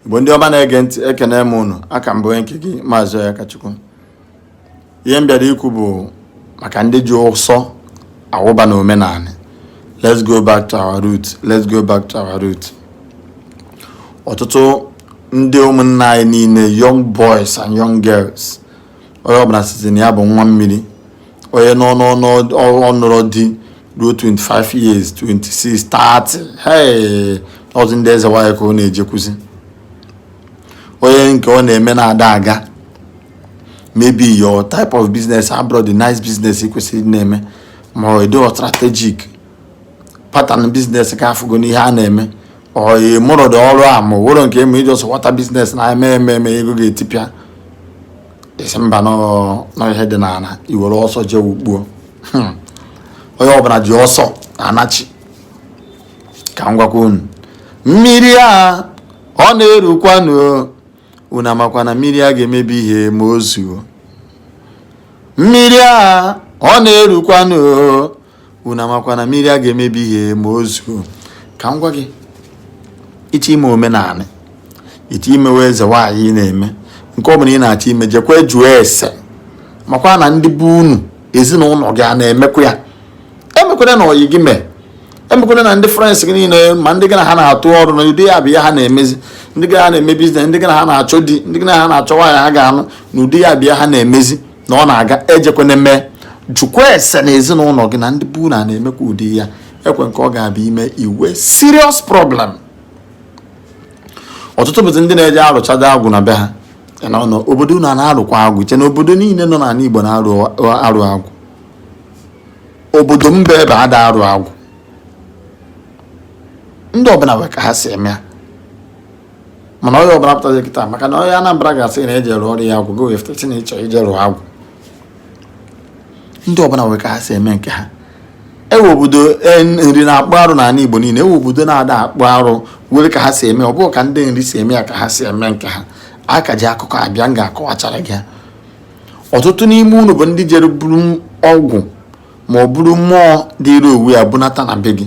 igbo ndị ọma na-ege ntị ekene m unu a ka m bụ onye nke gị maazị Akachukwu ihe m bịara ikwu bụ maka ndị ji ụsọ awụba na omenala let's go back to our root let's go back to our root ọtụtụ ndị ụmụnna anyị niile young boys and young girls onye ọbụla sịzi na ya bụ nwa mmiri onye na-anụrọ di ruo 25 years 26 30 hey ọ bụzi ndị eze nwanyị ka ọ na-ejekwuzi onye nke ọ na-eme na-ada aga maybe your type of business abụrọ the nice business i kwesịrị na-eme ma ọ dị strategic pattern business ka afụgo n'ihe a na-eme oyi mụrụ ụdị ọrụ a ma wụrụ nke eme i ji ọsọ wata biznes na-eme eme eme ego ga-etipịa ị sị mba na ihe dị n'ala i were ọsọ jee ugbuo hmm. onye ọbụla ji ọsọ anachi ka m gwakwa unu mmiri a ọ na-erukwanụ unu amakwa na mmiri a ga-emebi ihe ma o zuo mmiri a ọ na-erukwanụ unu amakwa na mmiri a ga-emebi ihe ma o zuo ka m gwa gị ị chọ ime omenala ị chọ imewe eze nwaanyị ị na-eme nke ọ bụla ị na-achọ ime jekwa jụọ ese makwa na ndị be unu ezinụlọ gị a na-emekwa ya emekwana na ọyị gị mee emekwana na ndị friends gị niile ma ndị gị na ha na-arụ ọrụ na ụdị ya bụ ihe ha na-emezi ndị gị na ha na-eme biznes ndị gị na ha na-achọ di ndị gị na ha na-achọ nwaanyị ha ga-anụ na ụdị ya bụ ihe ha na-emezi na ọ na-aga ejekwana mee jụkwa ese na ezinụlọ gị na ndị be unu a na-emekwa ụdị ya e nwere nke ọ ga-abụ i mee i nwee serious problem ọtụtụ bụzi ndị na-eje arụchado agwụ na be ha n'obodo unu a na-arụkwa agwụ i che na obodo niile nọ n'ala Igbo na-arụ agwụ obodo m bụ ebe a da arụ agwụ ndị ọbụla nwere ka ha si eme ya mana onye ọbụla pụtazi kịta maka na onye Anambra ga-asị na e je rụọrọ ya agwụ gị wefụta si na ị chọ ije rụọ agwụ ndị ọbụla nwere ka ha si eme nke ha e nwere obodo e, Nri na-akpụ arụ n'ala Igbo niile e nwere obodo na-ada akpụ arụ nwere ka ha si eme ọ bụghị ka ndị Nri si eme ya ka ha si eme nke ha a ka ji akụkọ abịa m ga-akọwachara gị ọtụtụ n'ime unu bụ ndị jere buru ọgwụ ma ọ bụrụ mmụọ dịrị owu ya bunata na be gị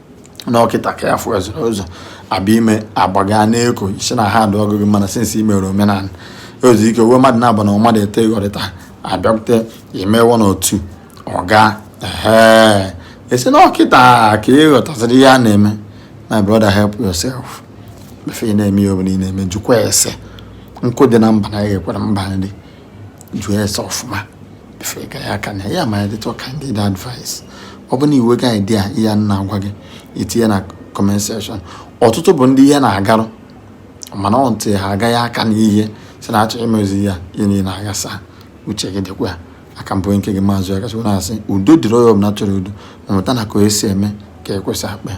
na ọ kịta ka ya fụ ezoro ụzọ abịa ime agbaga n'eko isi na ha adụ ọgụgụ mana since i mere omenala ozi ike uwe mmadụ na-abụ na mmadụ ete ịghọrịta abịakwute imewe na otu ọga ee ị sị na ọ kịta ka ị ghọtasịrị ihe a na-eme my brother help yourself before ị na-eme ihe ọ bụla ị na-eme jụkwa ese nkụ dị na mba na-eghere mba nri jụọ ese ọfụma before ịga ya aka na ya my little candid advice ọ bụ na i nwega idea ihe a na-agwa gị itinye na comment section ọtụtụ bụ ndị ihe na-agarụ mana ọ ntị ha agaghị aka n'ihe si na-achọ imezi ya ihe niile aghasa uche gị dịkwa a ka m bụ nke gị Maazị Akachukwu na-asị udo dịrị onye ọbụla chọrọ udo ma mụta na ka o esi eme ka ekwesị akpa ya